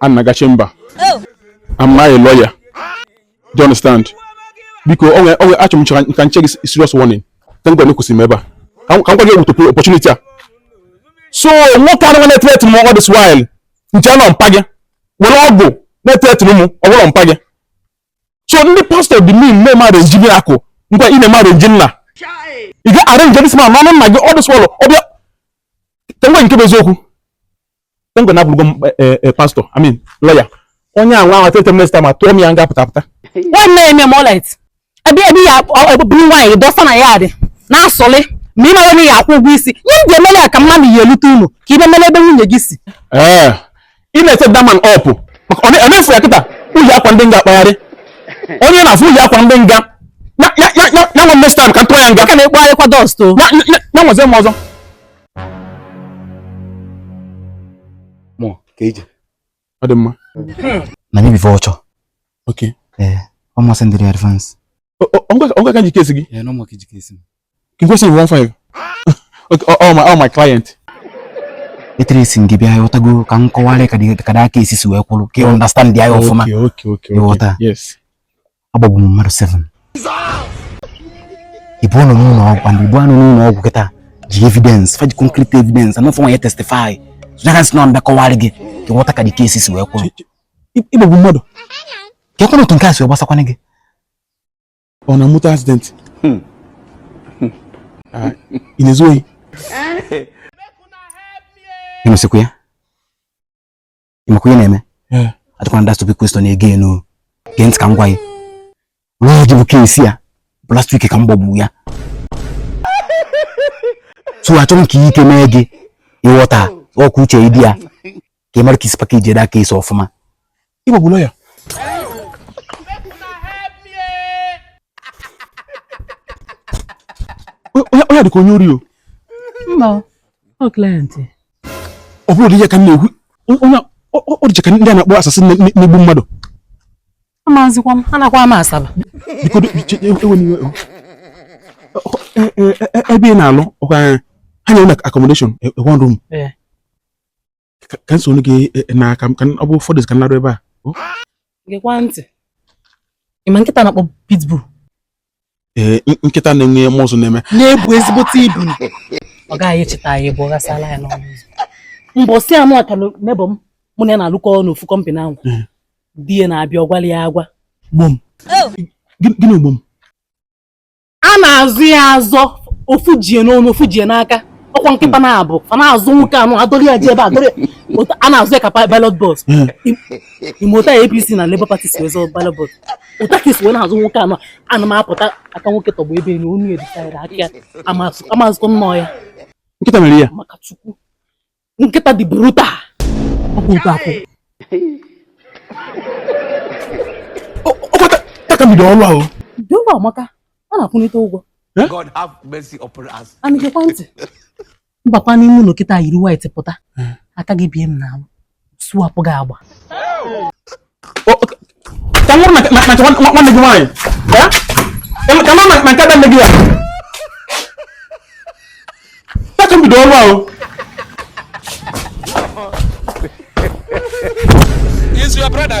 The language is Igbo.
a na-aga chamber am I a lawyer do you understand biko onwe onwe achọ m ka m nye gị serious warning thank God ekwesịrị m ebe a ka m gwa gị ewutopu opportunity a so nwoke anụ na-etreti m all this while m che na ọ mpa gị were ọgwụ na-etreti m ọ bụrụ mpa gị so ndị pastọ dị mean mee mmadụ njibi akụ ngwa ị na-eme arenji nna ị ga arenji this man n'ọnụ nna gị ọ dịsị ọlụ ọbịa ka nwe nke bụ eziokwu tengwe na abụrụgo m eh, eh, eh, pastọ I mean lọya onye a nwa ahụ tete minista ma tụọ m ya nga pụta pụta nwanne ya eme m ọlit ebe ebe ya bụrụ nwaanyị dọsa na ya dị na-asọlị ma ị mara onye ya akwụ ụgwọ isi nye ndị emere ya ka mmadụ ya elute unu ka ibe mere ebe nwunye gị si ee ị na-ete daman ọpụ maka ọ na- ọ na-efu ya kịta ụlọ akwa ndị nga akpagharị onye na-afụ ụlọ akwa ndị nga ya ya ya ya ya nwa mestan ka m tụọ ya nga ka na-ekpogharịkwa dust o ya ya ya nwazie m ọzọ mụ ka ije ọ dị mma na mi before ọchọ ok ee ọ masị ndị dị advance ọgwa ka m ji case gị ee na ọ mụ ka i ji case m ka nkwesị bụ 15 ok all my all my client etere esi gị bịa ị ghọtago ka m kọwara ka the case si wee kwụrụ ka ị understand ya ọfụma ị ghọta yes agbagbu m mmadụ 7 people nọ n'ụlọ ọgwụ and people anụ n'ụlọ ọgwụ kịta ji evidence fa ji concrete evidence anọfọ nwa ya testify against nọ mbe kọwarị gị ka ị ghọta ka the case si wee kwụrụ ị gbagbu mmadụ ka ekwenụ otu nke a si wee gbasakwana gị ọ na moto accident hmm. Hmm. Ah, ị na-ezu ohi eh? ị nụsịkwa ya ị makwa ihe na-eme eh. ajụkwana that stupid question again gee ntị ka m gwa gị nwaanyị jibu case ya bụ last week ka m gbagbu ya so achọ m ka ike mee gị ị ghọta ọkụ uche ịdị ya ka ị mara ka i si pakejie the case ọfụma ị gbagbula ya onye dịka onye ori o mba ọ client ọ bụrụ di ya ka m na-ekwu onye ọ dịcha ka ndị a na-akpọ assassin na-egbu mmadụ amazikwa m anakwa m Asaba ebe ị na-alụ ọ kwa ha nyere na accommodation e, e, one room e. ka nsogbu gị na aka m ka ọ bụ ụfọdụ ka m larụ ebe a gekwa ntị ị ma nkịta na-akpọ pitbull ee nkịta na-enwe muscle na-eme na-ebu ezigbote ibu ọ gaghị echeta ya ebe ọ ghasala ya n'ọnụ ụzọ mbọsị anụ ka neighbour m mụ na ya na-alụkọ n'ofu company ahụ hmm. di ya na-abịa ọ gwala ya agwa gbom oh. gịnị gbom a na-azọ ya azọ ofu jie n'ọnụ ofu jie n'aka ọkwa nkịta hmm. naabọ fa na-azọ nwoke anụ a dọrọ ya jee ebe a dọrọ a na-azọ ya ka ballot box ị ma otu APC na Labour Party si wee zọọ ballot box otu a ka e si wee na-azọ nwoke anụ ana m apụta aka nwoke tọgbọ ebe enyi onu editara aka ya amazụkọ nnọọ ya nkịta mere ya maka chukwu nkịta dị brutal ọkwa otu a akwụ ọkọta ta ka m bido ọrụ ahụ dị ụgwọ amaka a na-akwụnite ụgwọ God have mercy upon us. A na-egekwa ntị. m bakwa n'ime ụnọ kịta yiri white pụta hmm. aka gị bie m n'ahụ sụwapụ gị agba ka nwụrụ maka nwanne gị nwaanyị ka nọ na nke nne gị ya ya ka m bido ọrụ ahụ Is your brother?